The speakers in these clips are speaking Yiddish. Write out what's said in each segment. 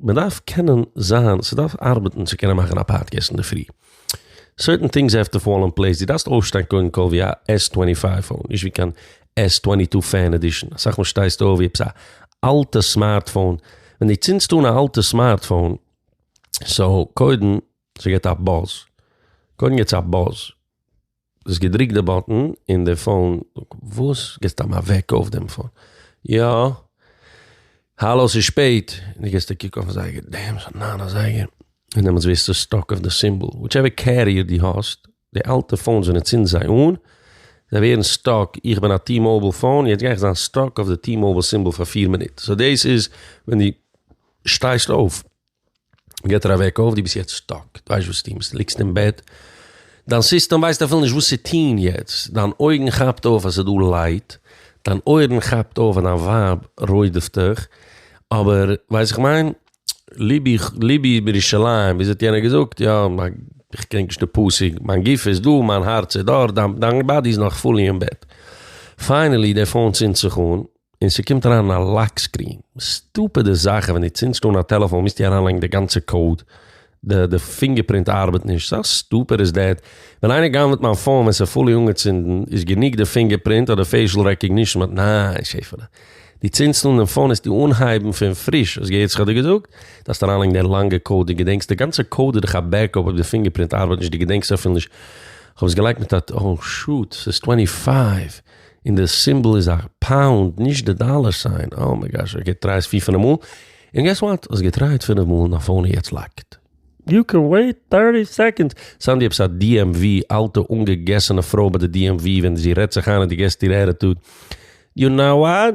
מען דארף קענען זיין, ס'דארף ארבעטן צו קענען מאכן א פאדקעסט אינדערפרי. סערטען טינגס העוו טו פאל אין פלעיס, דו דארפסט אויפשטיין קודם כל ווי א עס טווענטי פייוו פאון, נישט ווי קיין עס טווענטי טו פען עדישאן, אסאך מאל שטייסטו אויף ווי עפעס א אלטע סמארטפאון, ווען דו צינדסט אן א אלטע סמארטפאון, סאו קודם ס'געט א באז, קודם געטס א באז. דו האסט געדריקט די באטן און די פאון. וואס? געסט סתם אוועק אויף דעם פאון? יא. האלא ס'איז שפעט. די געסט א קוק אויפן זייגער, דעעם ס'איז ניין א זייגער. און דעמאלטס ווערסטו סטאק אויף די סימבאל. וויטשעווער קעריער די האסט, די אלטע פאונס ווען מ'צינדט זיי אן, זיי ווערן סטאק, איך בין א טי מאוביל פאון, יעצט גיי איך זיין סטאק אויף די טי מאוביל סימבאל פאר פיר מינוט. סאו דאס איז ווען די שטייסט אויף. געט ער א וועק אויף, דו ביסט יעצט סטאק, דו ווייסט וואס טוהן, דו ליגסט אין בעט, דיין סיסטעם ווייסט אפילו נישט וואס צו טוהן יעצט, דיין אויגן כאפט אויף אז ס'דא לייט, דיין אויערן כאפט אויף אז דיין ווייב רודפ'ט דיך, אבער, ווייסט איך מיין, ליבי ליבי בירושלים, ווי האט יענער געזאגט, יא, איך קען נישט די פסוק, מיין גוף איז דא, מיין הארץ איז דארט, דיין באדי איז נאך פולי אין בעט. פיינעלי די פאון צינדט זיך אן. און ס'קומט אריין א לאק סקרין, סטופידע זאכן, ווען דו צינדסט אן א טעלעפאן מוזטו אריינלייגן די גאנצע קאוד, די די פינגער פרינט ארבעט נישט, סא סטופיד איז דעט, ווען איינער גנב'ט מיין פאון ווען ס'איז פולי אנגעצינדן איז גענוג די פינגער פרינט אדער פעישל רעקאגנישן מיט ניין שעפעלע, דו צינדסט אן דעם פאון עסטו אנהייבן פון פריש, האסט געהערט וואס כ'האב דיר געזאגט? דארפסט אריינלייגן די לאנגע קאוד, דו געדענקסט די גאנצע קאוד איז דאך א בעקאפ אויב די פינגער פרינט ארבעט נישט, דו געדענקסט אפילו נישט, כ'האב עס געלייגט מיט א, אוי שוט, ס'איז טווענטי פייוו. און די סימבעל איז א פאונד נישט די דאלער סיין, אה מיי גאש, האסט געטרייט פיר פינעף מאל, און געס וואט, האסט געטרייט פינעף מאל און א פאון איז יעצט לאקד. יו קען וועיט טערטי סעקאנדס. סאנדי עפעס א DMV אלטע אנגעגעסענע פרוי ביי די DMV ווען זי רעדט זיך איין און די געסט איר עטיטוד, יו נאו וואט?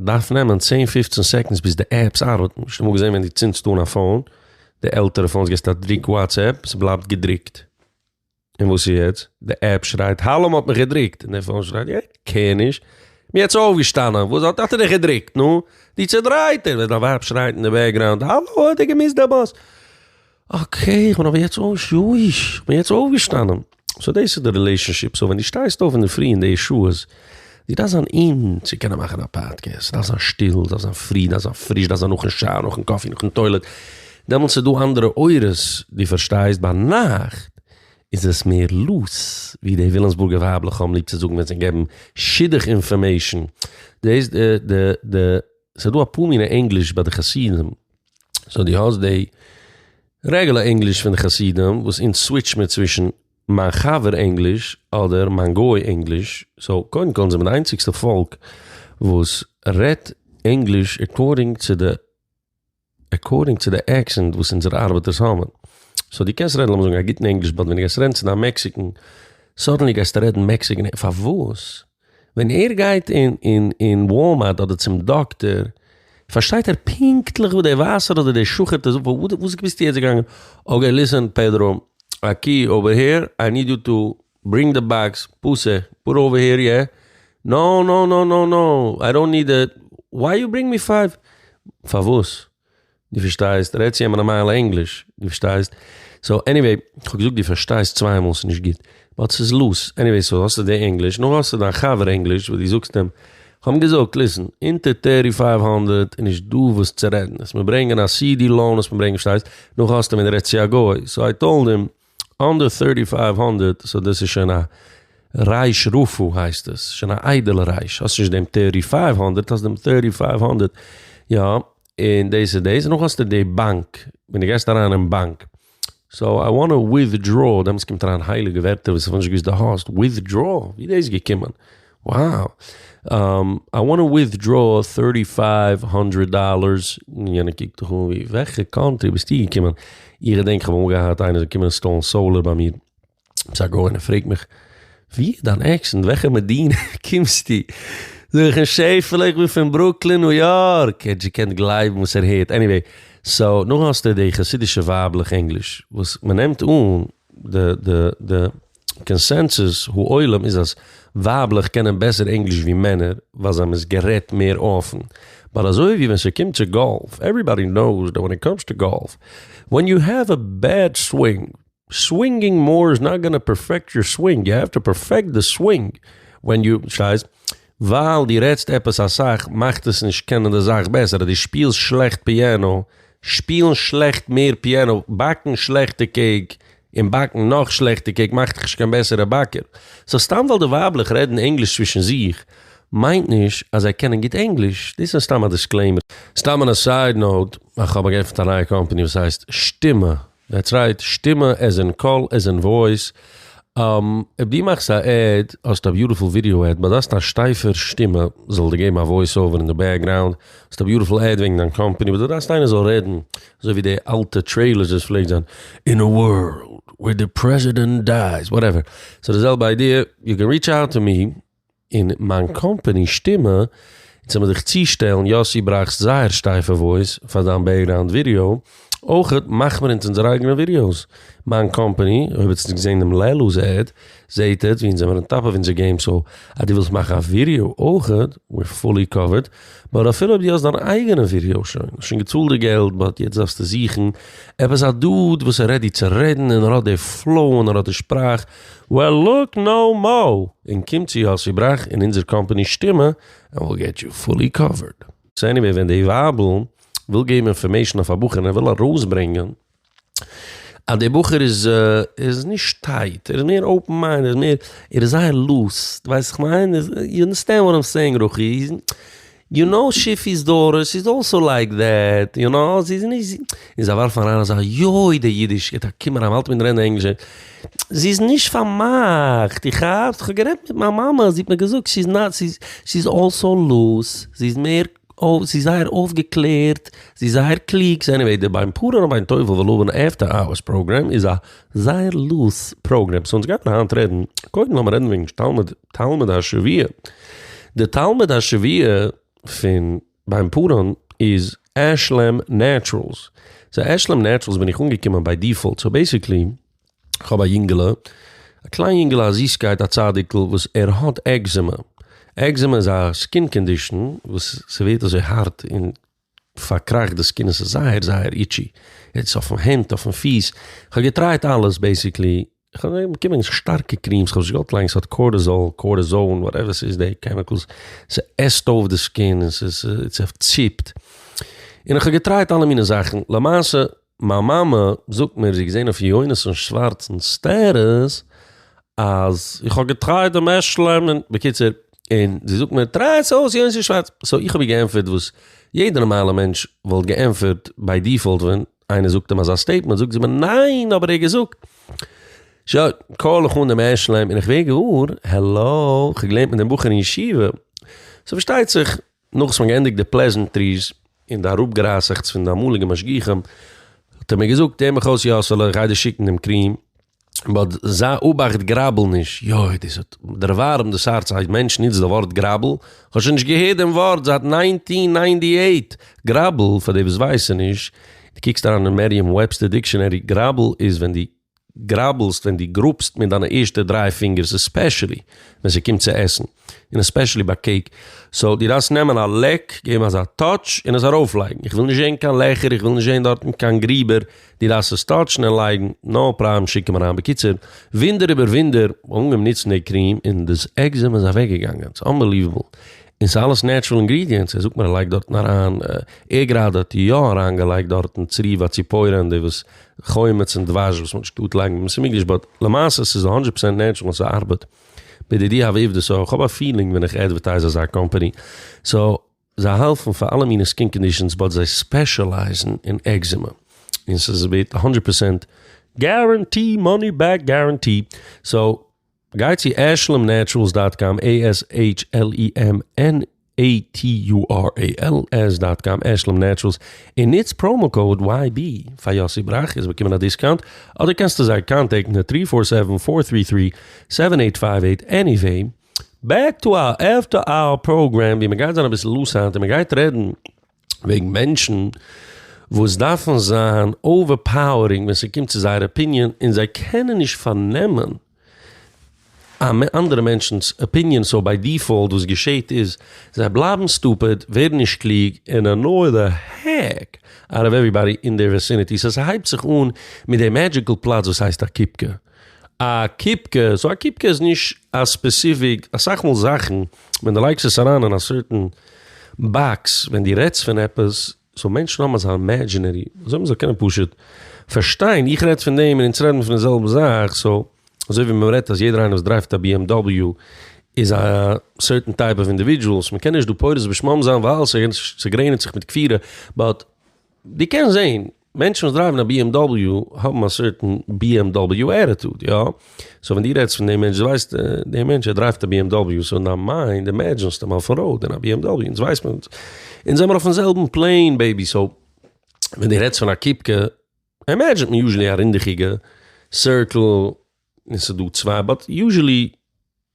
דארף נעמען צען פופצן סעקאנדס ביז די עפפס ארבעטן, נישט אמאל געזען ווען דו צינדסט אן א פאון, די עלטערע פאונס געסט א דריק וואטס עפפ, ס'בלייבט געדריקט, און וואס איז יעצט? די עפפ שרייט האלא מ'האט מיך געדריקט, און די פאון שרייט איך קעיר נישט, כ'בין יעצט אויפגעשטאנען, וואס האט האט ער דיך געדריקט, נו? דו צודרייטער! ווען דיין ווייב שרייט אין די בעקגראונד האלא האט ער געמיסט די באס! אקעי איך בין אבער יעצט אויש יויש איך בין יעצט אויפגעשטאנען סאו דאס איז די רילעישאנשיפ סאו ווען די שטייסט אויף אינדערפרי אין די שעות די דארפסט זיין אין צו קענען מאכן א פאדקעסט דארף זיין שטיל דארף זיין פרי דארף זיין פריש דארף זיין נאכן שאוער נאכן קאפי נאכן טוילעט דעמאלטס איז דא אנדערע אורות די פארשטייסט ביינאכט איז עס מער לוז ווי די ווילאמסבורגע ווייבלעך האבן ליב צו זאגן ווען זיי געבן שידוך אינפארמעישאן דאס איז די די די סאיז דא אפאר מינע ענגליש ביי די חסידים. סאו דו האסט די רעגולער ענגליש פון די חסידים וואס אונז סוויטש מיר צווישן מיין חבר ענגליש אדער מיין גוי ענגליש, סאו קודם כל אונז זעמיר די איינציגסטע פאלק וואס רעדט ענגליש עקארדינג צו די עקארדינג צו די עקסענט וואס אונזערע ארבעטערס האבן, סאו דו קענסט רעדן לאמיר זאגן א גוטן ענגליש באט ווען דו גייסט רעדן צו דיין מעקסיקען סאדענלי גייסטו רעדן מעקסיקען פארוואס? ווען ער גייט אין וואלמארט אדער צום דאקטער, פארשטייט ער פונקטליך וואס דער ווייסער אדער דער שוחט איז, וואס ביסטו יעצט געגאנגען? אקעי ליסען פעדרא, א קי אווער העיר, איי ניד יו טו ברינג די באקס, פאסע, פאר אווער העיר יע, נאו נאו נאו נאו נאו, איי דאנט ניד איט, וויי יו ברינג מי פייוו? פארוואס? דו פארשטייסט? רעד צו אים נארמאל ענגליש, דו פארשטייסט? סאו עניוועי, כ'האב געזאגט דו פארשטייסט צוויי מאל ס'נישט גוט, באט ס'איז לאז, עניוועי סאו האסטו די ענגליש, נו האסטו דיין חבר ענגליש וואס דו זאגסט אים, כ'האב אים געזאגט ליסן, אונטער טערטי פייוו האנדרעט איז נישט דא וואס צו רעדן, עס מיר ברענגען א סידי לאון עס מיר ברענגען, פארשטייסט? נו האסטו אים און רעדט צו א גוי, סאו איי טאלד אים. אנדער ט'ירטי פייוו הונדערט סאו דאס איז שוין א רייש רפו הייסט עס שוין א איידעלע רייש האסט נישט דעם ט'ירטי פייוו הונדערט האסט דעם ט'ירטי פייוו הונדערט יא און דאס איז דאס נאך האסטו די באנק ווען די גייסט אריין אין באנק סאו איי וואנט וויטדראו דעמאלטס קומט אריין הייליגע ווערטער וואס איך האב נישט געוויסט די האסט וויטדראו ווי איז דאס געקומען. וואו! איי וואנט טו וויטדרא טורטי פייוו האנדרעט דאללערס, יענער קוקט דיך אן ווי וועלכע קאנטרי ביסטו געקומען, איך געדענק איך האב אמאל געהאט איינער זאל קומען אינסטאלן סאולער ביי מיר, עפעס א גוי, און ער פרעגט מיך ווי איז דיין עקסענט וועלכע מדינה קומסטו, זאג איך אים שעפעלע איך בין פון ברוקלין ניו יארק, עטץ געקענט גלייבן וואס ער הערט, עניוועי, סאו נאך האסטו די חסידישע ווייבלעך ענגליש וואס מען נעמט אן די די די. קאנסענסוס העולם איז אז ווייבלעך קענען בעסער ענגליש ווי מענער ווייל זיי האבן עס גערעדט מער אפן באט אזוי ווי ווען ס'קומט צו גאלף עוועריבאדי נאוס דעט ווען איט קאמס טו גאלף ווען יו העוו א בעד סווינג סווינגינג מאר איז נאט גאנא פערפעקט יור סווינג יו העוו טו פערפעקט די סווינג ווען יו שטייסט ווייל דו רעדסט עפעס אסאך מאכט עס נישט קענען די זאך בעסער אז דו שפילסט שלעכט פיאנא שפילן שלעכט מער פיאנא באקן שלעכטע קעיק און באקן נאך שלעכטע קעיק מאכט דיך נישט קיין בעסערע באקער. סאו סתם ווייל די ווייבלעך רעדן ענגליש צווישן זיך, מיינט נישט אז זיי קענען גוט ענגליש, דאס איז סתם א דיסקלעימער. סתם אן א סייד נאוט, איך האב געעפנט א נייע קאמפאני וואס הייסט שטימע, דעטס רייט, שטימע עז אין קול עז אין וואויס, אויב דו מאכסט א עד, האסט א ביוטיפול ווידעא עד, באט האסט א שטייפער שטימע, זאל דיר געבן א וואויס אווער אין די בעקגראונד, האסט א ביוטיפול עד וועגן דיין קאמפאני, באט דו דארפסט איינער זאל רעדן אזוי ווי די אלטע טרעילערס וואס פלעגט זיין, אין א ווארלד וועיר די פרעזידענט דייס, וואטעווער. ס'איז די זעלבע איידיע, יו קען ריטש אוט טו מי, און מיין קאמפאני שטימע, און צומה זיך צושטעלן, יאסי ברויכסט זייער שטייפע וואויס פאר דיין בעקגראונד ווידעא, אויכעט מאכמער אונז אונזערע אייגענע ווידעאס, מיין קאמפאני, אויב האט נישט געזעהן דעם לעלוז עד, זעהט עטס ווי אונז זעמיר אן טאפ אויף אונזער געים סאו אז דו ווילסט מאכן א ווידאו אויכעט וויר פולי קאווערד באט אפילו אויב דו האסט דיין אייגענע ווידאו שוין האסט שוין געצאלט די געלט באט יעצט דארפסטו זוכן עפעס א דוד וואס איז רעדי צו רעדן און ער האט די פלאו און ער האט די שפראך וועל לוק נאו מאו און קום צו יאסי בראך און אונזער קאמפאני שטימע ענד וויל געט יו פולי קאווערד. סאו עניוועי ווען די ווייבל וויל געבן אינפארמעישן אויף א בחור און ער וויל ארויסברענגען. אז דער בחור איז איז נישט טייט, ער איז מער אופן מיינד, ער איז מער, ער איז זייער לוז, דו ווייסט וואס איך מיין? יו אנדערסטענד וואט איים סעינג רוחי? יו נאו שיפי'ס דאטער, שי איז אלסאו לייק דעט, יו נאו, זי איז נישט, און זיי ווארפן אריין אזא יוי די אידיש, געבט א קום אריין, מ'האלט מיט רעדן ענגליש, זי איז נישט פארמאכט, דו כאפסט? כ'האב גערעדט מיט מיין מאמע, זי האט מיר געזאגט, שי איז נאט, שי איז אלסאו לוז, זי איז מער. אוי זי איז זייער אויפגעקלערט, זי איז זייער קלוג, סאו עניוועי די ביין פארען און ביין טובל ולבן עפטער אווערס פראגרעם איז א זייער לוז פראגרעם, סאו אונז גייטן היינט רעדן, קודם לאמיר רעדן וועגן תלמוד תלמוד השבוע, די תלמוד השבוע פון ביין פארען איז עשלם נעטשרעלס, סאו עשלם נעטשרעלס בין איך אנגעקומען ביי דיפאלט, סאו בעסיקלי. איך האב א יונגעלע, א קליין יונגעלע א זיסקייט א צדיק'ל וואס ער האט עקזעמע, עקזעמע איז א סקין קאנדישאן וואס ס'ווערט אזוי הארט און פארקראכט די סקין עס איז זייער זייער איטשי, יעצט אויפן הענט אויפן פיס, כ'האב געטרייט אלעס בעסיקלי, כ'האב געזעהן באקומען שטארקע קרימס, כ'האב זיך געוואלט לייגן ס'האט קארטיזאל, קארטיזאן, וואטעווער ס'איז די קעמיקלס, ס'עסט אויף די סקין און ס'ציפט, און כ'האב געטרייט אלע מיני זאכן, למעשה. מיין מאמע זאגט מיר זי האט געזען אויף יונתן שווארצ'ן סטעטוס אז איך האב געטרייט דעם עשל'ן, בקיצור, און זי זאגט מיר טריי עס אויס יונתן שווארץ, סאו איך האב איר געענטפערט וואס יעדע נארמאלע מענטש וואלט געענטפערט ביי דיפאלט ווען איינער זאגט אים אזא סטעיטמענט, זאגט זי מיר ניין אבער ער האט געזאגט, שוין, קאל איך אן דעם עשל'ן און איך ווער געוואר, העלא, איך האב געלערנט מיט דעם בחור אין ישיבה, סאו פארשטייט זיך נאך וואס מ'האט געענדיגט די פלעזענטריס און די אראפגערייסעכטס פון די אמאליגע משגיחים, האט ער מיר געזאגט, הער מיך אויס יאסעלע, איך גיי דיר שיקן דעם קריעם, באט זיי אבאכט גראבל נישט, יוי דאס האט דערווארעמט דאס הארץ, א מענטש נוצט די ווארט גראבל, איך האב שוין נישט געהערט דעם ווארט זייט ניינטין ניינטי עיט, גראבל, פאר די וואס ווייסען נישט, די קוקסט אריין אין מעריעם וועבסטער דיקשאנערי, גראבל איז ווען די. גראבלסט ווען דו גראבסט מיט דיינע ערשטע דריי פינגערס עספעשעלי ווען ס'קומט צו עסן און עספעשעלי ביי קעיק סאו דו דארפסט נעמען א לעק געבן אזא טאטש און עס ארויפלייגן איך וויל נישט זען קיין לעכער איך וויל נישט זען דארטן קיין גריבער דו דארפסט עס טאטשן און לייגן נא פראבלעם שיק אים אריין בקיצור ווינדער איבער ווינדער כ'האב אנגעהויבן נוצן די קריעם און דאס עקזעמע איז אוועקגעגאנגען ס'איז אנבעליוועבל און ס'איז אלעס נעטשרעל אינגרידיענטס ער זאגט מיר ער לייגט דארטן אריין ער גראדע האט יא אריינגעלייגט דארטן צריבה ציפוירענדי וואס חומץ און דבש וואס מ'האט נישט געטארט לייגן ווען מ'איז מיגליש באט למעשה ס'איז א הונדרעט פראצענט נעטשרעל און ס'ארבעט. בידידי האב עובדות סאו כ'האב א פילינג ווען איך עדווערטייז אזא קאמפאני סאו זיי האלפן פאר אלע מיני סקין קאנדישאנס באט זיי ספעשעלייזן אין עקזימע און ס'איז ווערט הונדרעט פראצענט גערענטי מאני בעק גערענטי סאו. גיי צו ashlumnaturals דאט קאם, עי עס העיטש על אי עם אן עי טי יו אר א על עס דאט קאם, ashlumnaturals, און נוץ פראומא קאוד וויי בי פאר יאסי בראך און זיי באקומען א דיסקאונט, אדער קענסטו זיי קאנטעקטן עט טרי פאר סעווען פאר טרי טרי סעווען עיט פייוו עיט, עניוועי בעק טו אווער עפטער אוער פראגרעם ווי מען גייט זיין אביסל לוס היינט און מען גייט רעדן וועגן מענטשן וואס דארפן זיין אווער פאוערינג ווען ס'קומט צו זייער אפיניען און זיי קענען נישט פארנעמען אנדערע מענטשנ'ס אפיניען סאו ביי דיפאולט וואס געשעהט איז זיי בלייבן סטופיד ווערן נישט קלוג און ענוי די העק אוט אוו עוועריבאדי אין דעיר וויסינעטי סאו ס'הייבט זיך אן מיט די מעדזשיקל פלאץ וואס הייסט א קופקע א קופקע, סאו א קופקע איז נישט א ספעסיפיק, אסאך מאל זאכן ווען די לייגסט עס אריין אין א סערטען באקס ווען די רעדסט פון עפעס, סאו מענטשן האבן אזא אימעדזשינערי אזוי מ'זאל קענען פשוט פארשטיין, איך רעד פון דעם און אונז רעדן פון די זעלבע זאך, סאו אזוי ווי מען רעדט אז יעדער איינער וואס דרייווט א BMW איז א סערטען טייפ אוו אינדיווידזשועל, סאו מ'קען נישט דא פורס בשמם זיין ווייל ס'גרעניצט זיך מיט כפירה, באט. די קענסט זעהן מענטשן וואס דרייוון א bmw האבן א סערטען bmw עטיטוד יא? סאו ווען די רעדסט פון די מענטש די ווייסט די מענטש ער דרייווט א bmw סאו אין דיין מיינד אימעדזשענסט אים אויפן ראוד אין א bmw אונז ווייסט מען אונז זעמער אויפן זעלבן פלעין בעיבי סאו ווען די רעדסט פון א קיפקע אימעדזשענט מען יוזשעלי א רינדעכיגע סירקעל און ס'איז דא צוויי באט יוזשעלי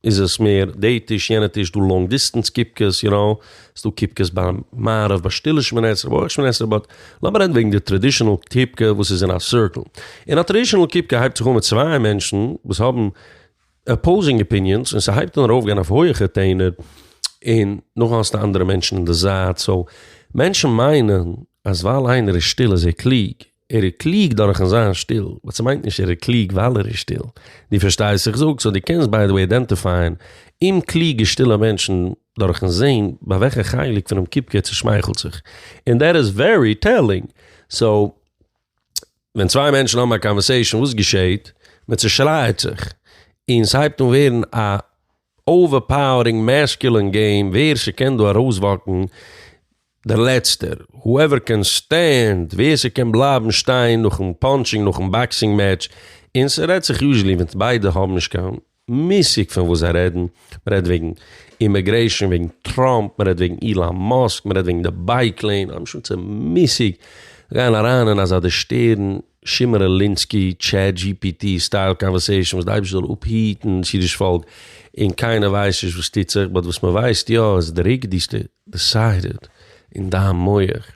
איז עס מער די טיש יענע טיש דא לאנג דיסטענס קיפקעס יו נאו, ס'איז דא קיפקעס ביי מערב ביי שטילע שמונה עשרה ביי אויך שמונה עשרה באט לאמיר רעדן וועגן די טראדישענעל קיפקע וואס איז אין א סירקעל, און א טראדישענעל קיפקע הייבט זיך אן מיט צוויי מענטשן וואס האבן אפאוזינג אפיניענס און ס'הייבט אן ארויפגיין אויף הויעכע טענער און נאכדעם האסטו אנדערע מענטשן אין די זייט, סאו מענטשן מיינען אז ווייל איינער איז שטיל איז ער קלוג ער איז קלוג דורכ'ן זיין שטיל, באט ס'מיינט נישט ער איז קלוג ווייל ער איז שטיל. דו פארשטייסט וואס איך זאג? סאו דו קענסט ביי די וועי איידענטיפייען אומקלוגע שטילע מענטשן דורכ'ן זעהן ביי וועלכע חלק פונעם קופקע ער צושמייכלט זיך. און דעט איז ווערי טעלינג. סאו ווען צוויי מענטשן האבן א קאנווערסעישאן וואס געשעהט? מען צושרייעט זיך. און ס'הייבט אן ווערן א אווערפאוערינג מעסקולין געים ווער ס'קען דא ארויסוואקן דער לעצטער, הואעווער קען סטענד, ווער ס'קען בלייבן שטיין נאכן פאנטשינג נאכן באקסינג מעטש, און ס'רעדט זיך יוזשעלי ווען ביידע האבן נישט קיין מושג פון וואס זיי רעדן, מ'רעדט וועגן אימעגרעישן, וועגן טראמפ, מ'רעדט וועגן אילאן מאסק, מ'רעדט וועגן די בייק לעין, א משוגע'צע מושג, זיי גייען אריין אין אזא דערשטערן שמעון רילינסקי טשעט דזשי פי טי סטייל קאנווערסעישאן וואס די אייבערשטער זאל אפהיטן דאס אידיש פאלק און קיינער ווייסט נישט וואס טוט זיך באט וואס מען ווייסט יא איז די ריגדיסטע דיסיידעד אין דיין מח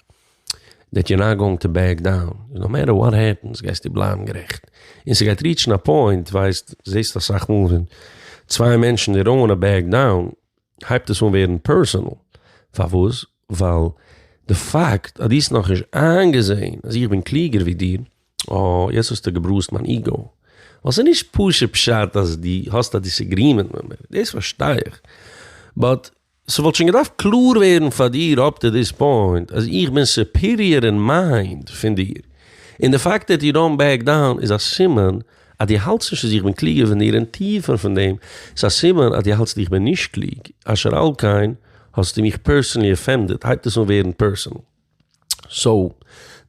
דעט יור נאט גאוינג טו בעק דאון נאו מעטער וואט העפענס גייסטו בלייבן גערעכט און ס'גייט ריעטשן א פוינט ווייסט זעסט אסאך מאל ווען צוויי מענטשן די דאונט וואנט טו בעק דאון. הייבט עס אן ווערן פערסאנעל, פארוואס? ווייל די פאקט אז דו האסט נאכנישט איינגעזעהן אז איך בין קלוגער ווי דיר, אה, יעצט האסטו געבראזט מיין איגאו, ווייל ס'איז נישט פשוט פשט אז דו האסט א דיסעגרימענט מיט מיר, דאס פארשטיי איך, באט ס'וואלט שוין געדארפט קלאר ווערן פאר דיר אפ טו דיס פוינט אז איך בין סופעריער אין מיינד פון דיר, און די פאקט דעט יו דאונט בעק דאון איז א סימן אז דו האלטסט נישט אז איך בין קלוגער פון דיר און טיפער פון דעם איז א סימן אז דו האלטסט איך בין נישט קלוג, אשר על כן האסטו מיך פערסענלי אפענדעד, הייבט עס אן ווערן פערסענעל. סאו,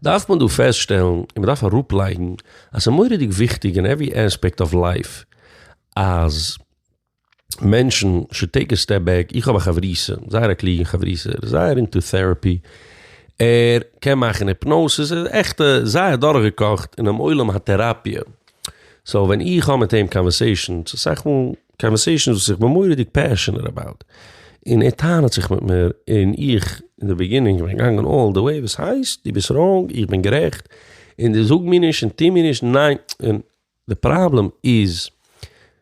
דארף מען דא פעסטשטעלן און מ'דארף אראפלייגן אז ס'מורא'דיג וויכטיג אין עווערי עספעקט אוו לייף אז. מענטשן שוד טעיק א סטעפ בעק, איך האב א חברותא, זייער א קלוגע חברותא, ער איז זייער אינטו טעראפי, ער קען מאכן היפנאוסיס, ער איז עכטע זייער דורכגעקאכט אינעם עולם הטעראפיע, סאו ווען איך האב מיט אים קאנווערסעישאנס, אסאך מאל קאנווערסעישאנס וואס איך בין מורא'דיג פעשענעט אבאוט, און ער טענה'ט זיך מיט מיר, און איך אין די ביגינינג בין געגאנגען אלל די וועי, וואס הייסט? דו ביסט ראנג, איך בין גערעכט, און דו זאג מיר נישט און טוה מיר נישט, ניין, און. די פראבלעם איז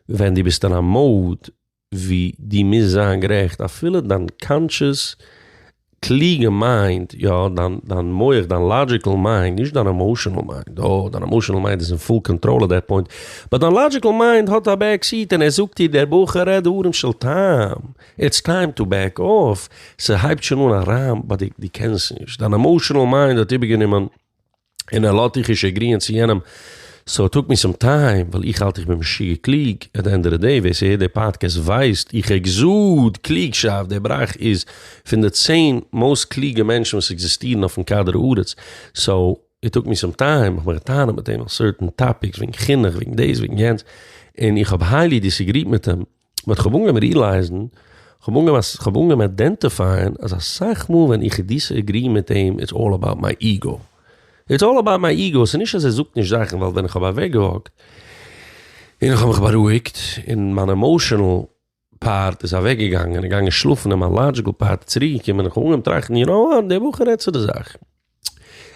ווען דו ביסט אין א mode ווי דו מוזט זיין גערעכט אפילו דיין קאנטשעס קלוגע מיינד, יא, דיין מח, דיין לאדזשיקעל מיינד, נישט דיין עמאשענעל מיינד, יא, דיין עמאשענעל מיינד איז אין פול קאנטראל אט דעט פוינט, באט דיין לאדזשיקעל מיינד האט א בעק סיעט און ער זאגט דיר דער בחור רעד דברים של טעם, איטס טיים טו בעק אףף, ס'הייבט שוין אן אריין ביי די, דו קענסט נישט, דיין עמאשענעל מיינד האט איבערגענומען. און ער לאָזט דיך נישט עגריִען צו יענעם, סאָ טאָלק מי סאָם טײַם, װײַל איך האַלט איך בין משוגע קלוג. עט די ענד אָף די דעי, װער ס'הערט די פּאָדקעסט װײסט, איך עקזאָד, קלוגשאַפֿט, דער בראַך איז פֿון די צען מאָסט קלוגע מענטשן װאָס עקזיסטירן אױפֿן כּדור-הארץ, סאָ איט טאָלק מי סאָם טײַם, איך מאַך טענות מיט אים על סערטען טאָפּיקס, װעגן חינוך, װעגן דאָס, װעגן יענץ, און איך האָב הײלי דיסעגריעט מיט אים. באט כ'האב אנגעהויבן ריעלייזן, כ'האב אנגעהויבן, כ'האב אנגעהויבן איידענטיפייען אז אסאך מאל ווען איך דיסעגרי מיט אים איטס אלל אבאוט מיי איגו. איטס אלל אבאוט מיי איגו, ס'איז נישט אז ער זאגט נישט זאכן, ווייל ווען כ'האב אוועקגעוואקט און איך האב מיך בארואיגט און מיין עמאושענעל פארט איז אוועקגעגאנגען און געגאנגען שלאפן און מיין לאדזשיקל פארט איז צוריקגעקומען און כ'האב אנגעהויבן טראכטן, יו נאו וואט, די בחור רעדט צו די זאך.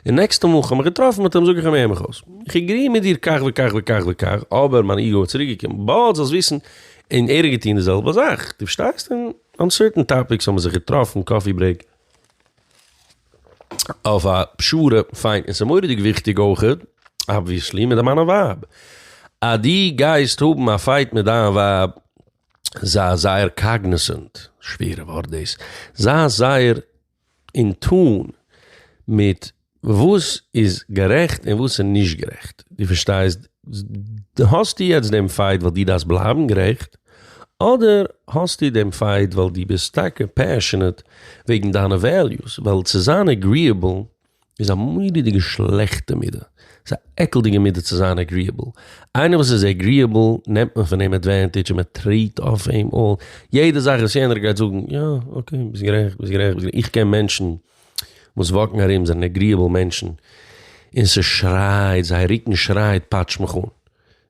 און נעקסטע מאל כ'האב מיך געטראפן מיט אים זאג איך אים הער מיך אויס, כ'עגרי מיט דיר כך וכך וכך וכך, אבער מיין איגו האט צוריק געקומען, באלד זאלסט וויסן, און ער האט געטון די זעלבע זאך, דו פארשטייסט? און אן סערטען טאפיקס האבן מיר זיך געטראפן, קאפי ברעיק, אויף א פשרה, פיין, און ס'איז מורא'דיג וויכטיג אויכעט, אבוויעסלי, מיט מיין ווייב, אז דו גייסט האבן א פייט מיט דיין ווייב, זיי זייער קאגניסענט, שווערע ווארט דאס, זיי זייער. און טון מיט וואס איז גערעכט און וואס איז נישט גערעכט, דו פארשטייסט? האסטו יעצט דעם פייט ווייל דו דארפסט בלייבן גערעכט, אדער האסטו דעם פייט ווייל דו ביסט טאקע פעשענעט וועגן דיינע וועליוס, ווייל צו זיין עגריעבל איז א מורא'דיגע שלעכטע מידה. ס'איז א עקלדיגע מידה צו זיין עגריעבל. איינער וואס איז עגריעבל נעמט מען פון אים עדווענטידזש און מען טרעט אויף אים אן יעדע זאך וואס יענער גייט זאגן, יא אקעי ביסט גערעכט ביסט גערעכט ביסט גערעכט, איך קען מענטשן וואס וואקן ארום זענען עגריעבל מענטשן און ס'שרייט זייער רוקן שרייט פאטש מיך אן,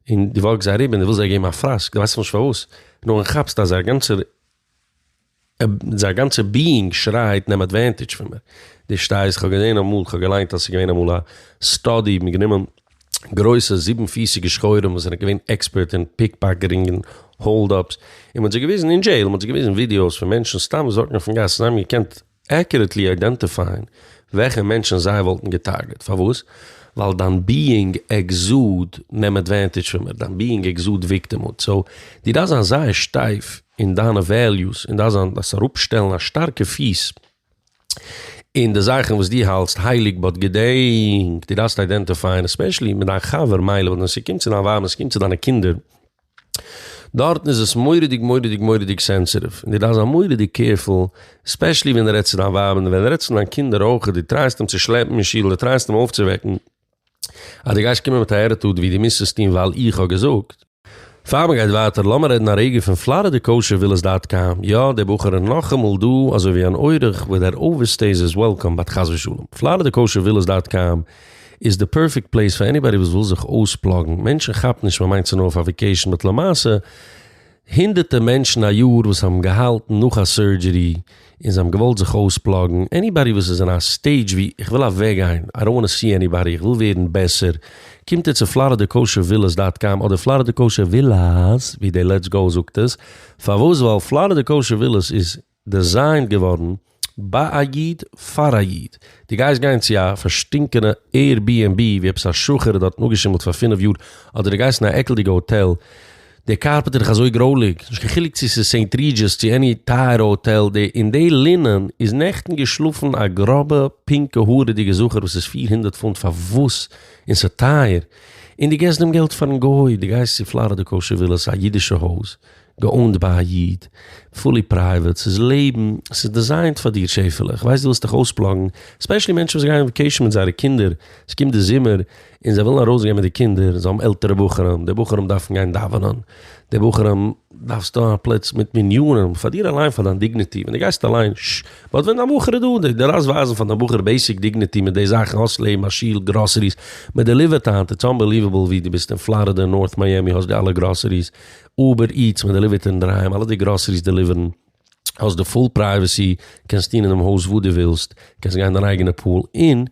און דו וואקסט זיי אריבער און דו ווילסט זיי געבן א פראסק, דו ווייסט נאכנישט פארוואס, נאר ווען כאפסט אז זייער גאנצער. זיין גאנצע ביאינג שרייט נעם עדווענטידזש פון מיר, דו שטייסט, כ'האב געזען אמאל, כ'האב געליינט אז ס'איז געווען אמאל א סטאדי, מ'האט גענומען גרויסע זיבן פיסיגע שחורים וואס זענען געווען עקספערט אין פיקפאקעטינג און האלד אפס, און מ'האט זיי געוויזן אין דזשעיל, מ'האט זיי געוויזן ווידיאוס פון מענטשן סתם וואס וואקן אויפן גאס, זיי האבן געקענט עקיוראטלי איידענטיפייען וועלכע מענטשן זיי וואלטן געטארגעט. פארוואס? ווייל דיין ביאינג עקזאד נעם אדווענטידזש פון מיר, דיין ביאינג עקזאד וויקטימהוד. סאו, דו דארפסט זיין זייער שטייף אין דיינע וועליוס, און דארפסט זיין, דארפסט אראפשטעלן א שטארקע פיס אין די זאכן וואס דו האלטסט הייליג, באט געדענק, דו דארפסט איידענטיפייען, עספעשעלי מיט דיין חבר, מילא, באט ווען ס'קומט צו דיין ווייב, ווען ס'קומט צו דיינע קינדער, דארטן איז עס מורא'דיג מורא'דיג מורא'דיג סענסעטיוו, און דו דארפסט זיין מורא'דיג קעירפול, עספעשלי ווען דו רעדסט צו דיין ווייב, און ווען דו רעדסט צו דיין קינדער אויכעט, דו טרייסט אים צו שלעפן אין שול, דו טרייסט אים אויפצווועקן, אז דו גייסט קומען מיט א עטיטוד ווי דו מוזט עס טון ווייל איך האב געזאגט. פאר מ'גייט ווייטער לאמיר רעדן א רגע פון פלארידע קאושער ווילעס דאט קאם, יא, דער בחור איז נאכאמאל דא אזוי ווי אן אורח, וואס דער אווערסטעיז איז וועלקאם באט חס ושלום, פלארידע קאושער ווילעס דאט קאם איז די פערפעקט פלעיס פאר עניבאדי וואס וויל זיך אויספלאגן, מענטשן כאפן נישט מ'מיינט צו נאר אויף א וועקעישן באט למעשה הונדערטע מענטשן א יאר וואס האבן געהאלטן נאך א סורדזשערי און זיי האבן געוואלט זיך אויספלאגן, עניבאדי וואס איז אין א סטעידזש ווי איך וויל אוועקגיין, איי דאנט וואנט טו סי עניבאדי, איך וויל ווערן בעסער, קומט ער צו פלארידע קאושער ווילעס דאט קאם אדער פלארידע קאושער ווילאס ווי די לעטס גאו זאגט עס, פארוואס ווייל פלארידע קאושער ווילעס איז דעזיינט געווארן ביי א איד פאר א איד, דו גייסט גיין צו א פארשטינקענע עיר בּי ענד בּי ווי עפעס א שחור האט דארטן אפגעשימלט פאר פֿינף יאר, אדער דו גייסט אין א עקלדיגע האטעל, די קארפעט איז דאך אזוי גרויליג, נישט קיין חילוק צו עס איז סעינט רידזשעס צו עני טייערע האטעל, די אין די לינען איז נעכטן געשלאפן א גראבע פינקע הארעדיגע זכר וואס איז פֿיר הונדערט פונט פארוואס און ס'איז טייער, און דו געסט דעם געלט פארן גוי, דו גייסט צו פלארידע קאושער ווילאס א אידישע הויז. געאונד ביי א איד, פולי פרייוועט, ס'איז לעבן, ס'איז דיזיינט פאר דיר שעפעלע, איך ווייס דו ווילסט דיך אויספלאגן, ספעשלי מענטשן וואס גייען וואקעישן מיט זייערע קינדער, ס'קומט די זומער און זיי ווילן ארויסגיין מיט די קינדער, זיי האבן עלטערע בחורים, די בחורים דארפן גיין דאווענען, די בחורים דארפסטו א פלאץ מיט מניינים, פאר דיר אליין פאר דיין דיגניטי, ווען דו גייסט אליין, ש. באט ווען דיין בחור איז דא, דו דארפסט ווייזן פאר דיין בחור בעיסיק דיגניטי מיט די זאכן, האסט לעבן, א שול, גראסעריס, מען דעליווערט היינט, איטס אנבעליוועבל ווי דו ביסט אין פלארידע, נארט מיאמי, האסט די אלע גראסעריס, אובער איטס מען דעליווערט אינדערהיים, אלע די גראסעריס דעליווערן, האסט די פול פרייוועסי, קענסט טון אינעם הויז וואס דו ווילסט, קענסט גיין אין דיין אייגענע פול, און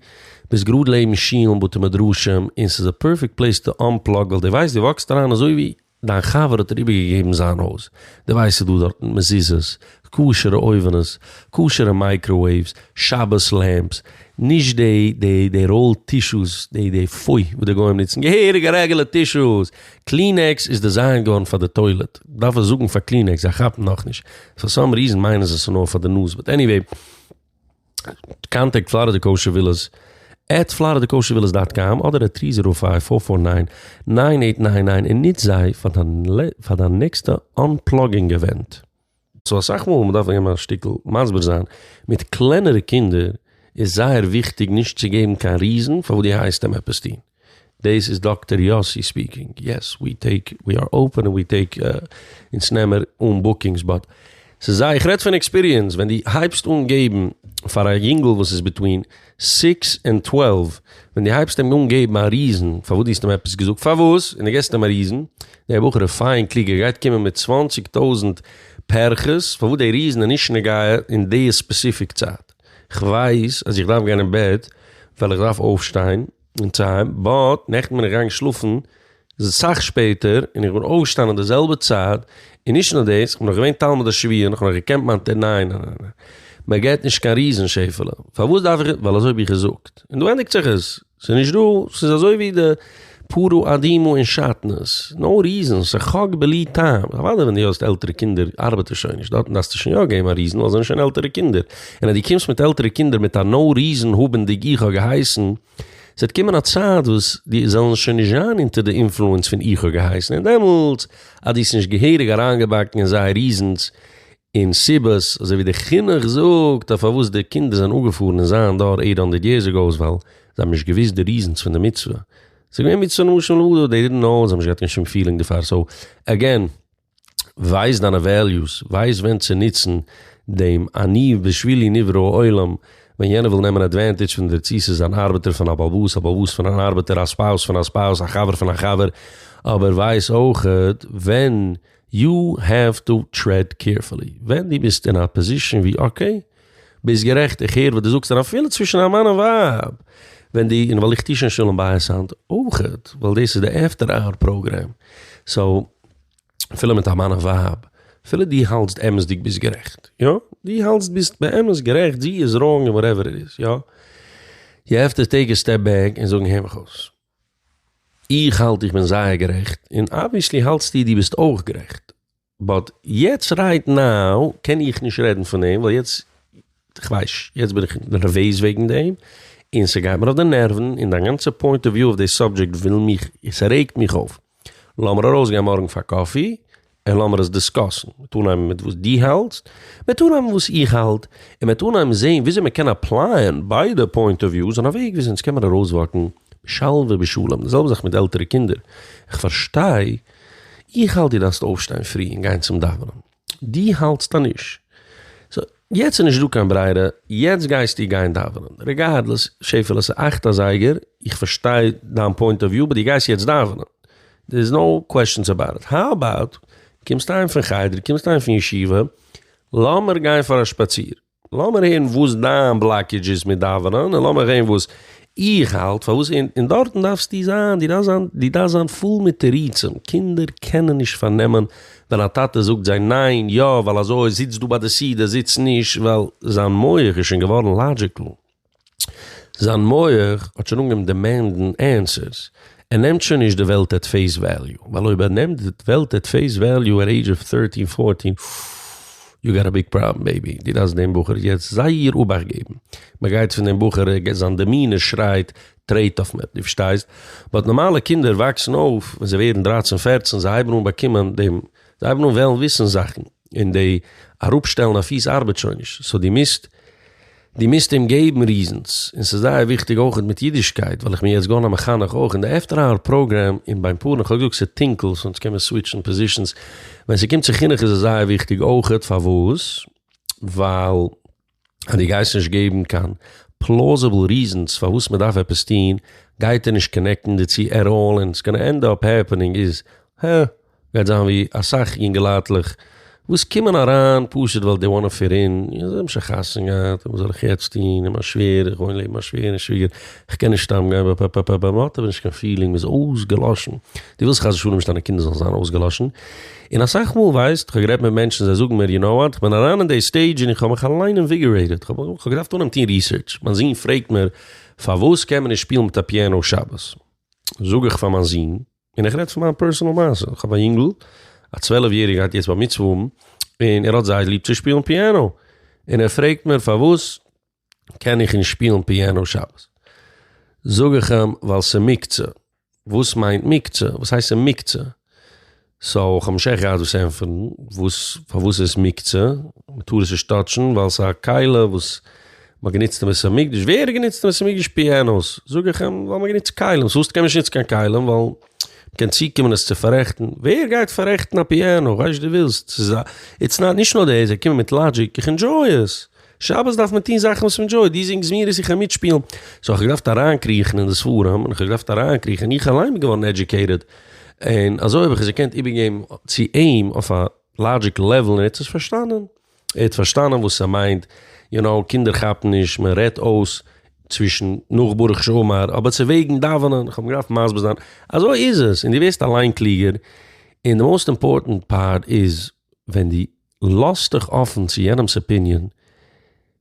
ביסט גראד לעבן שולן בתי מדרשים, און ס'איז א פערפעקט פלעיס טו אנפלאג ווייל דו ווייסט דו וואקסט אריין אזוי ווי דיין חבר האט דיר איבערגעגעבן זיין הויז, דו ווייסט ס'איז דא דארטן מזוזות, כשר'ע אויווענעס, כשר'ע מייקראוועיווס, שבת לעמפס, נישט די די די ראול טישוס די די פוי וואס די גוים נוצן, געהעריגע רעגעלע טישוס! קלינעקס איז דעזיינט געווארן פאר די טוילעט, דארף איך זאגן פאר קלינעקס? זיי כאפן נאכנישט, פאר סאם ריזען מיינען זיי ס'נאר פאר די נאז, באט עניוועי, קאנטעקט פלארידע קאושער ווילעס עט פלארידע קאושער ווילעס דאט קאם אדער עט טרי זירא פייוו פאר פאר ניין ניין עיט ניין ניין און נוץ זיי פאר דיין נעקסטע אנפלאגינג אווענט. סאו אסאך מאל ווען מ'דארף געבן א שטיקל מסביר זיין מיט קלענערע קינדער איז זייער וויכטיג נישט צו געבן קיין ריזן פארוואס דו הייסט אים עפעס טון. דעיס איז דאקטער יאסי ספיקינג, יעס ווי טעיק ווי אר אופען און ווי טעיק אונז נעמער אן בוקינגס באט ס'איז זייער איך רעד פון עקספיריענס ווען דו הייבסט אן געבן פאר א יונגל וואס איז ביטווין סיקס און טוועלוו, ווען דו הייבסט אים אן געבן א ריזען פארוואס דו האסט אים עפעס געזאגט פארוואס, און דו געסט אים א ריזען, דער בחור איז פיין קלוג ער גייט קומען מיט צוואנציג טויזענט פערכעס פארוואס דער ריזען איז נישט נוגע אין די ספעסיפיק צייט, כ'ווייס אז איך דארף גיין אין בעט ווייל איך דארף אויפשטיין, אין טיים, באט נעכטן בין איך געגאנגען שלאפן סאך שפעטער און איך בין אויפגעשטאנען אין די זעלבע צייט, און נישט נאר דאס, איך בין נאך געווען תלמיד השביעי און איך האב נאך געקענט מיין תר ניין ניין ניין ניין, מען געט נישט קיין ריזן שעפעלע, פארוואס דארף איך, ווייל אזוי האב איך געזאגט, און דא ענדיגט זיך עס, ס'איז נישט דא, ס'איז אזוי ווי די פרו אדימו אין שאטנז, נאו ריזן, ס'חק בלי טעם, אוודאי ווען דו האסט עלטערע קינדער ארבעט עס שוין נישט, דארטן דארפסטו שוין יא געבן א ריזן ווייל זיי זענען שוין עלטערע קינדער. און אז דו קומסט מיט עלטערע קינדער מיט א נאו ריזען האבענדיג איך האב געהייסן, ס'וועט קומען א צייט וואס די זעלן שוין נישט זיין אונטער די אינפלוענס פון איך האב געהייסן און דעמאלטס אז דו האסט נישט געהעריג אריינגעבאקן אין זיי ריזענס און סיבות אזוי ווי די חינוך זאגט אז פארוואס די קינדער זענען אנגעפארן אין זיין דור עיט האנדערט יערס אגאו איז ווייל זיי האבן נישט געוויסט די ריזענס פון די מצוה ס'איז געווען מצוה למשל אדער דעי דידנט נאו זיי האבן נישט געהאט קיין שום פילינג דערפאר סאו עגעין ווייס דיינע וועליוס, ווייס ווען צו נוצן דעם אני בשבילי נברא העולם, ווען יענער וויל נעמען עדווענטידזש פון דיר צי ס'איז אן ארבעטער פון א בעל הבית, א בעל הבית פון אן ארבעטער, א ספאוס פון א ספאוס, א חבר פון א חבר, אבער ווייס אויכעט ווען יו העוו טו טרעד קעירפולי, ווען דו ביסט אין א פאזישאן ווי אקעי, ביסט גערעכט איך הער וואס דו זאגסט, און אפילו צווישן א מאן און ווייב, ווען די, און ווייל איך טו שוין שלום בית היינט אויכעט, ווייל דאס איז די עפטער אוער פראגרעם, סאו. אפילו מיט א מאן און ווייב, אפילו דו האלטסט אמת'דיג ביסט גערעכט, יא, דו האלטסט ביסט באמת גערעכט, זי איז ראנג און וואטעווער איט איז, יא, יו העוו טו טעיק א סטעפ בעק און זאגן, הער מיך אויס, איך האלט איך בין זייער גערעכט, און אבוויעסלי האלטסטו דו ביסט אויך גערעכט, באט יעצט רייט נאו קען איך נישט רעדן פון דעם, ווייל יעצט, כ'ווייס, יעצט בין איך נערוועז וועגן דעם, און ס'גייט מיר אויף די נערוון, און דיין גאנצע פוינט אוו וויו אויף די סאבדזשעקט וויל מיך, ס'רעגט מיך אויף. לאמיר ארויסגיין מארגן פאר קאפי און לאמיר עס דיסקאסן, מ'עט אנהייבן מיט וואס דו האלטסט, מ'עט אנהייבן וואס איך האלט, און מ'עט אנהייבן זעהן וויאזוי מ'קען אפלייען ביידע פוינט אוו וויוס אין א וועג וויאזוי אונז קענמיר ארויסוואקן בשלווה בשלום, די זעלבע זאך מיט די עלטערע קינדער, איך פארשטיי, איך האלט דו דארפסט אויפשטיין פרי און גיין צום דאווענען, די האלטסט אז נישט, סאו יעצט איז נישט דא קיין ברירה, יעצט גייסטו גיין דאווענען, רעגארדלעס, שעפעלע ס'איז אכט אזייגער, איך פארשטיי דיין פוינט אוו וויו, באט דו גייסט יעצט דאווענען, דער איז נאו קוועשאנס אבאוט איט, האו אבאוט, קומסט אהיים פון חדר, קומסט אהיים פון ישיבה, לאמיר גיין פאר א שפאציר. לאמיר הערן וואס דיין בלאקעדזש איז מיט דאווענען און לאמיר הערן וואס איך האלט פארוואס אין דארטן דארפסטו זיין, דו דארפסט זיין, דו דארפסט זיין פול מיט תירוצים, קינדער קענען נישט פארנעמען ווען א טאטע זאגט זיי ניין, יא, ווייל אזוי, זיץ דא ביי די סידור, זיץ נישט, ווייל זיין מח איז שוין געווארן לאדזשיקל. זיין מח האט שוין אנגעהויבן דעמענדן ענסערס, ער נעמט שוין נישט די וועלט עט פעיס וועליו, ווייל אויב ער נעמט די וועלט עט פעיס וועליו עט עידזש אוו טערטין פארטין, אוף, יו גאט א ביג פראבלעם בעיבי, דו דארפסט דעם בחור יעצט זייער אבאכט געבן, מען גייט פון דעם בחור, זיין דעמינער שרייט טרעט אויף מיר, דו פארשטייסט, באט נארמאלע קינדער וואקסן אויף, ווען זיי ווערן דרייצן פערצן, זיי הייבן אן באקומען דעם, זיי הייבן אן וועלן וויסן זאכן, און די אראפשטעלן א פיס ארבעט שוין נישט, סאו דו מוזט. די מוזט אים געבן ריזענס, און ס'איז זייער וויכטיג אויכעט מיט אידישקייט ווייל איך בין יעצט געווארן א מחנך אויך אין די עפטער האוער פראגרעם און ביים פארן איך האב געזאגט ס'איז טונקל סאו אונז קען מען סוויטשן פאזישענס ווען ס'קומט צו חינוך איז עס זייער וויכטיג אויכעט פארוואס ווייל אז דו גייסט נישט געבן קיין פלאזעבל ריזענס פארוואס מ'דארף עפעס טון גייט ער נישט קאנעקטן דערצו עט אלל און ס'גאנא ענד אפ העפענינג איז הער. גייט זיין ווי אסאך יונגעלייטלעך וואס קומען אריין פשוט ווייל דעי וואנט טו פיט אין, זיי האבן שוין חתונה געהאט, וואס זאל איך יעצט טון, און מיין שווער, איך וואוין לעבן מיין שווער און שוויגער, איך קען נישט סתם גיין, פפפפפפ, מען האט אבער נישט קיין פילינג, מען איז אויסגעלאשן, דו ווילסט חס ושלום נישט דיינע קינדער זאלן זיין אויסגעלאשן, און אסאך מאל ווייסט, איך האב גערעדט מיט מענטשן זיי זאגן מיר, יו נאו וואט, איך בין אריין אין דעי סטעידזש און איך האב מיך אליין אינוויגערעיטעד, איך האב געדארפט אנהייבן טון ריסערטש, מיין זון פרעגט מיר, פארוואס קען מען נישט שפילן מיט א פיענא שבת? זאג איך פאר מיין זון. און איך רעד פון מיין פערסענעל מעשה, איך האב א יונגל א צוועלף יעריגע גייט יעצט בר מצוה האבן, און ער האט זייער ליב צו שפילן פיאנא, און ער פרעגט מיר פארוואס קען איך נישט שפילן פיאנא שבת, זאג איך אים ווייל ס'איז מוקצה, וואס מיינט מוקצה? וואס הייסט ס'איז מוקצה? סאו כ'האב נישט עכט געהאט וואס ענטפערן, וואס פארוואס איז מוקצה? מ'טאר עס נישט טאטשן ווייל ס'איז א כלה וואס מען האט גענוצט אין בית המקדש, ווער האט גענוצט אין בית המקדש פיאנאס? זאג איך אים, ווייל מען האט גענוצט כלים, סא וואס קען מען נישט נוצן קיין כלים? ווייל מען קען צוקומען עס צו פארעכטן, ווער גייט פארעכטן א פיאנא? כ'ווייס דו ווילסט, ס'איז א, איטס נאט, נישט נאר דעס, זיי קומען מיט לאגיק, איך ענדזשוי עס, שבת דארף מען טון זאכן וואס מ'ענדזשויט, דו זינגסט זמירות איך קען מיטשפילן, סא כ'האב געדארפט אריינקריכן אין די ספרים, און כ'האב געדארפט אריינקריכן, און איך אליין בין געווארן עדזשוקעיטעד, און אזוי האב איך עס געקענט איבערגעבן צו אים אויף א לאגיק לעוועל און ער האט עס פארשטאנען. ער האט פארשטאנען וואס ס'מיינט, יו נאו, קינדער כאפן נישט, מען רעדט אויס צווישן נאך ברוך שאמר, אבער צו וועגן דאווענען, כ'האב אים געדארפט מסביר זיין, אזוי איז עס, און דו ווערסט אליין קלוגער, און די מאוסט אימפארטענט פארט איז, ווען דו לאזט דיך אפן צו יענעמ'ס אפיניען,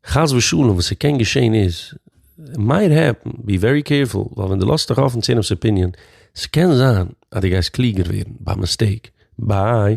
חס ושלום וואס ס'קען געשען איז, מייט העפן, בי ווערי קעירפול, ווייל ווען דו לאזט דיך אפן צו יענעמ'ס אפיניען, ס'קען זיין אז דו גייסט קלוגער ווערן, ביי מיסטעיק, ביי.